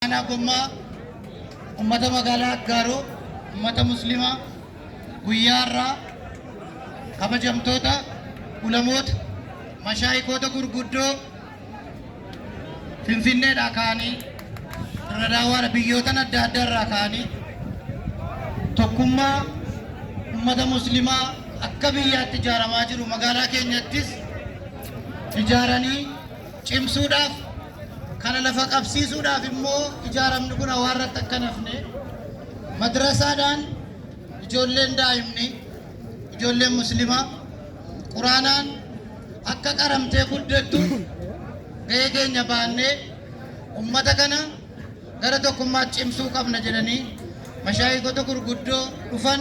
Aanaa Gommaa ummata magaalaa Aggaaroo ummata muslimaa guyyaa irraa kabajamtoota ulamoota mashaayikoota gurguddoo finfinneedhaa ka'anii irra daawwaadha biyyootan adda addaa irraa ka'anii tokkummaa ummata muslimaa akka biyyaatti ijaaramaa jiru magaalaa keenyattis ijaaranii cimsuudhaaf Kana lafa qabsiisuudhaaf immoo ijaaramni kun hawaarratti akka hin hafne madrasaadhaan ijoolleen daa'imni ijoolleen muslimaa quraanaan akka qaramtee guddattu gahee keenya baannee ummata kana gara tokkummaatti cimsuu qabna jedhanii mashaayikota gurguddoo dhufan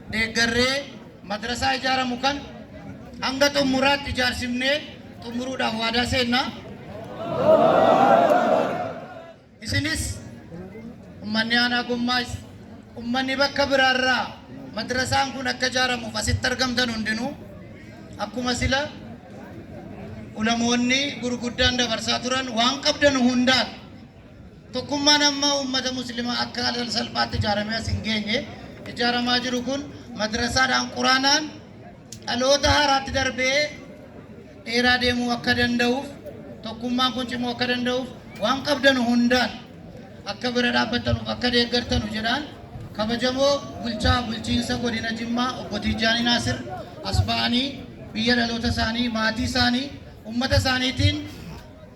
deeggarree madrasaa ijaaramu kan hanga xummuraatti ijaarsifnee xummuruudhaaf waadaa seenna. Isinis ummanni aanaa gommaa ummanni bakka biraarraa madrasaan kun akka ijaaramuuf asitti argamtan hundinuu akkuma sila ulamoonni gurguddaan dabarsaa turan waan qabdan hundaan Tokkummaan amma ummata muslimaa akka al salphaatti ijaaramee as hin geenye ijaaramaa jiru kun madrasaadhaan quraanaan dhaloota haaraatti darbee dheeraa deemuu akka danda'uuf tokkummaan kun cimuu akka danda'uuf waan qabdanu hundaan akka bira dhaabbattanuuf akka deeggartanu jedhaan kabajamoo bulchaa bulchiinsa godina Jimmaa obbo Tijaanii Naasir as ba'anii biyya dhaloota isaanii maatii isaanii ummata isaaniitiin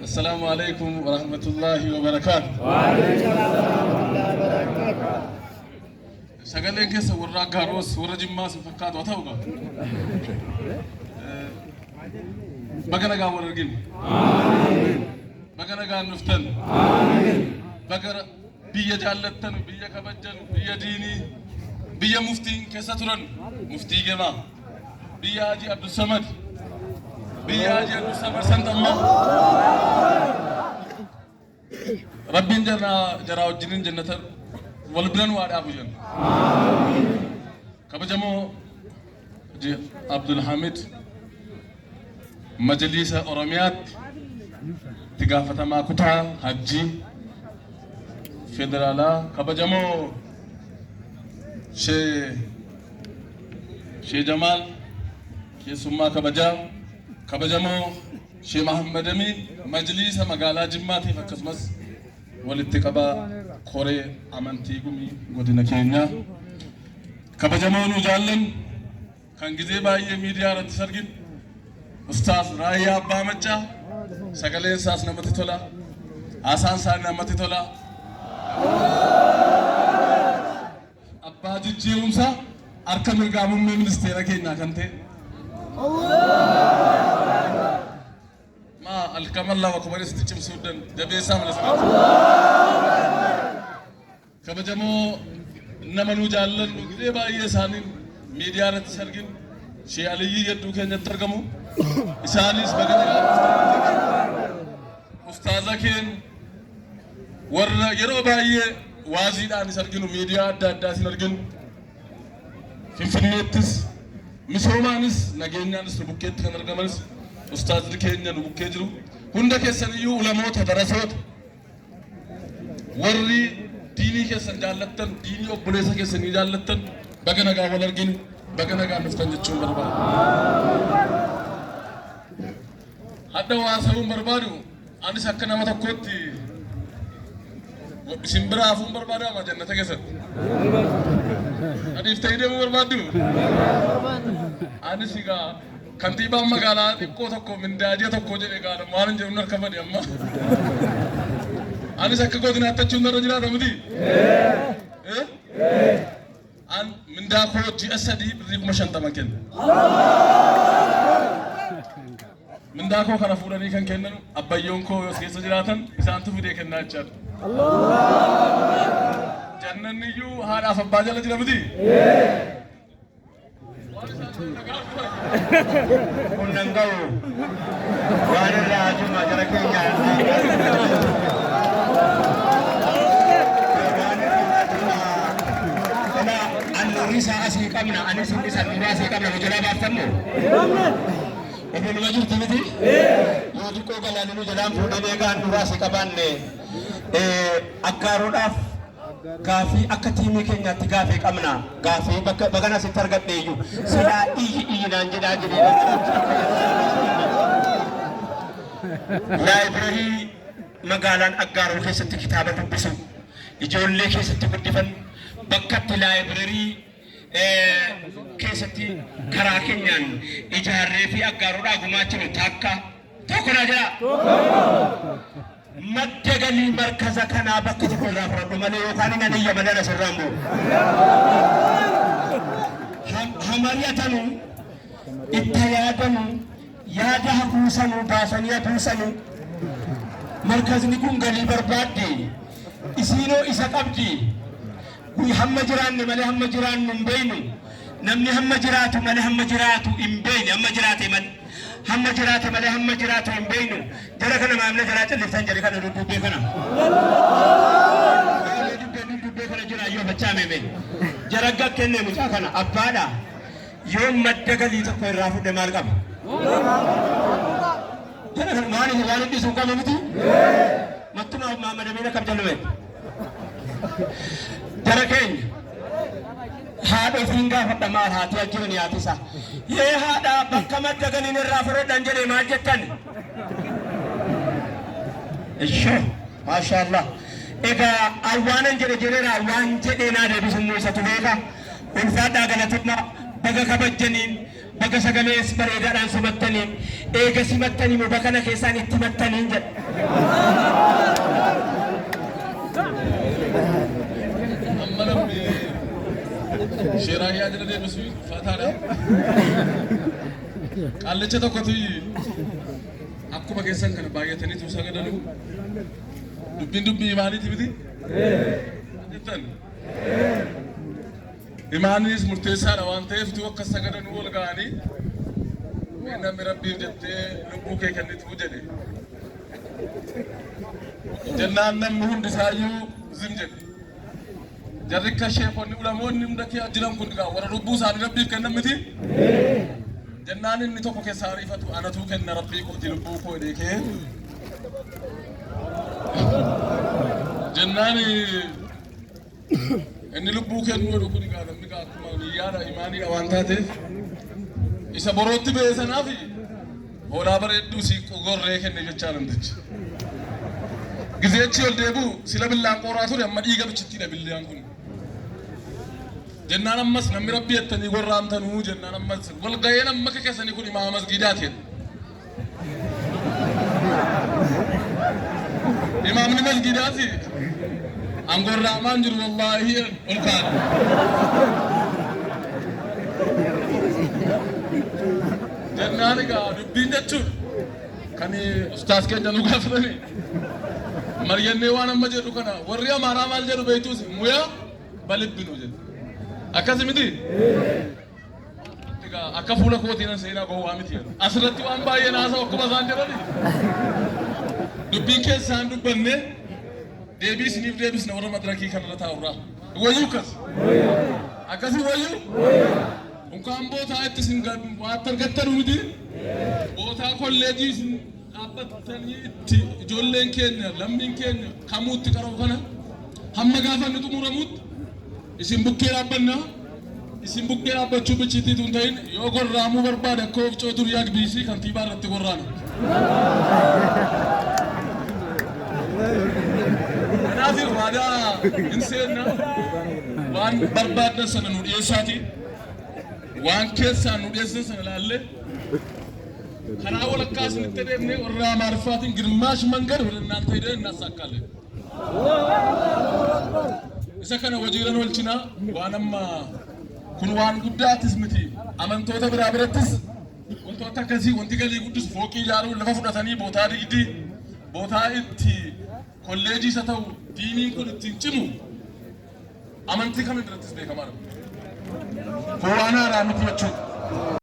Assalaamu Aleykum Warahmatullaahi Wabarakaatuh. Sagaleen keessa warra Aggaaroo warra Jimmaa sin fakkaatu haa ta'u qaba. Baga nagaan wal argine. Baga nagaan dhuftan. Baga biyya jaallattan, biyya kabajjan, biyya diinii, biyya muftiin keessa turan, muftii gemaa. Biyya Haji Abdussamad. Biyya Haji Abdussamad san tamma. Rabbiin jarra jaraa wajjinin jannata wal biran waa dhaabu jenna. Kabajamoo Haji Abdulhamid Majaliisa Oromiyaatti itti gaafatamaa kutaa hajjii federaalaa kabajamoo Shee Shee Jamaal keessummaa kabajaa kabajamoo Shee Mahammad Amiin majliisa magaalaa Jimmaatiif akkasumas walitti qabaa koree amantii gumii godina keenyaa kabajamoo nu jaallan Kan gizee baay'ee miidiyaa irratti sargin Ustaaz Raayyaa Abbaa Maccaa sagaleen isaas namatti tola. Haasaan isaa namatti tola. Abbaa jijjiirumsa harka mirgaa muummee ministeera keenyaa kan ta'e. Maa alkaman lama kumanis itti cimsuu dan jabeessaa mana sanatti. Kabajamoo nama nu jaallannu gidee baay'ee isaaniin miidiyaa irratti si argin Shee Aliyyii Yadduu keenyatti argamu. Isaanis baga nagaan Ustaaza keen warra yeroo baay'ee waaziidhaan is arginu miidiyaa adda addaa isin arginu. Finfinneettis misoomaanis nageenyaanis nu bukkeetti kan argamanis ustaazli keenya nu bukkee jiru. Hunda keessaniyyuu ulamoota darasoota Warri diinii keessan jaallattan, diinii obboleessa keessanii jaallattan baga nagaa wal arginu, baga nagaa dhuftan jechuun barbaada. Hadda waa ta'uun barbaadu anis akka nama tokkootti isin bira hafuun barbaadama jannata keessatti. Adiif ta'ee deemuu barbaaddu? Anis egaa Kantiibaan magaalaa xiqqoo tokko mindaa ji'a tokkoo jedhe gaadha maalin jedhu narka bade amma. Anis akka kooti naattachuun narra jiraata miti. An mindaa koo ji'a sadii birrii kuma shantama kenna. Mindaa koo kana fuudhanii kan kennan abbayyoon koo yoo keessa jiraatan isaantu fidee kennaa jechaadha. Jannanni iyyuu haadhaaf abbaa jala jira miti. Kunnan gahu waan irraa ajuma gara keenyaan Annuurisa asii qabna, anis hin dhisan nuuraa asii qabna nu jalaa baaftan moo? Obbo Numa jirtu miti? Yoo xiqqoo galaaninu jalaan fuudhamee kaan nuuraa asii qabaanne akkaaruudhaaf Gaaffii akka tiimii keenyaatti gaaffii qabna. Gaaffii bakka bagan asitti argadhe iyyuu silaa iyyi iyyi naan jedhaa jedhee Laayibirarii magaalaan Aggaaroo keessatti kitaaba dubbisu ijoollee keessatti guddifan bakkatti laayibirarii keessatti karaa keenyaan ijaarree fi Aggaaroodhaa gumaachinu takka tokko naa jedhaa. Madda galii markaza kanaa bakka tokko irraa fudhadhu malee yookaan nan iyya malee na sirraan bu'u. Ha- Ha mari'atanu, itti yaadanu, yaada hafuusanu baasanii hafuusanu. Markazni kun galii barbaaddi. Isiinoo isa qabdi. Nuyi hamma jiraanne malee hamma jiraannu hin beeknu. Namni hamma jiraatu malee hamma jiraatu hin beekne hamma jiraate malee. Hamma jiraate malee hamma jiraatu hin beeknu. Jara kana maamila jalaa calliftan jari kana duddubbee kana. Maamila dubbee duddubbee kana jira yoo fachaa meeme. Jara akka kenne mucaa kana abbaadha. Yoo madda galii tokko irraa fudhe maal qaba? Jara kana maaliif waan hidhisu hin qabu miti? Mattumaa maamadamiina kam jallumeetti? Jara keenya haadha ofiin gaafadha maal haati ajjoo ni haatisa. Yee haadha bakka madda galiin irraa fudhadhan jedhe maal jettan? Ishoo maashaallah. Egaa awwaanan jedhe jedheera waan jedhee naa deebisu immoo isatu beeka. Ulfaadhaa galatoomaa baga kabajjaniin. Baga sagalees bareedaadhaan simattanii eega simattanii moo bakana keessaan itti himattaniin jedha. Amma namni sheeraa yaa jala deebisu faataadha. Qaallicha tokkotu akkuma keessan kana baay'atanii tuusaa gadanu dubbiin dubbii maaliiti miti? Jettan. Imaannis murteessaadha waan ta'eef utuu akka sagadanuu ol ga'anii mee namni rabbiif jettee lubbuu kee kennituu jedhe. Jennaan namni hundi isaayyuu zim jedhe. Jarri akka sheekonni ulamoonni hunda kee jiran kun gaa warra lubbuu isaanii rabbiif kennan miti. Jennaan inni tokko keessaa ariifatu anatuu kenna rabbii kooti lubbuu koo jedhee kee. Jennaan Inni lubbuu kennu godhu kun egaa namni egaa akkuma niyyaadha imaaniidha waan taateef isa borootti ba'e sanaaf hoolaa bareedduu siiqquu gorree kenne jechaa namtichi. Gizeechi ol deebi'u sila billaan qooraa ture amma dhiiga bichittiidha billaan kun. Jennaan ammas namni rabbi jettanii gorraamtanuu jennaan ammas wal ga'een amma keessanii kun imaama masgiidaati. Imaamni masgiidaa fi aangoon raamaan jiru wallaahi ol kaadhu. Jennaan egaa dubbiin jechuun kan ustaas keenya nu gaafatame maryannee waan amma jedhu kana warri amaaraa maal jedhu beektuus muyaa balibbinu jedhu akkasi miti Egaa akka fuula kootii nan seenaa gowwaa miti jedhu. Asirratti waan baay'ee naasaa akkuma isaan jedhani. Dubbiin keessa isaan dubbanne deebii isiniif deebisna warra madirakii kanarra taa'urraa. Wayyuu akkas. Akkasii wayyuu. Unkaan bootaa itti isin gad waatti argattanu miti. Bootaa kolleejii isin dhaabbattanii itti ijoolleen keenya lammiin keenya kamuutti qaroo kana hamma gaafa inni xumuramutti Isin bukkee dhaabbanna. Isin bukkee dhaabbachuu bichiitti tun ta'in yoo gorraamuu barbaade akka oofcoo dur yaag biisii kantiibaa irratti gorraana. Kanaaf waadaa hin seenna. Waan barbaaddan sana nu dhiyeessaati. Waan keessaan nu dhiyeessan sana ilaallee karaa walakkaa isinitti deemnee warra Amaariffaatiin girmaash mangar wal innaan ta'ee innaan saakkaalee. Isa kana hojiirran oolchina waan amma kun waan guddaattis miti amantoota biraa birattis wantoota akkasii wanti galii guddisu fooqii ijaaruun lafa fudhatanii bootaa digdi bootaa itti kolleejii isa ta'u diiniin kun ittiin cimu amantii kam irrattis beekamaa dha. Kun waan haaraa miti jechuudha.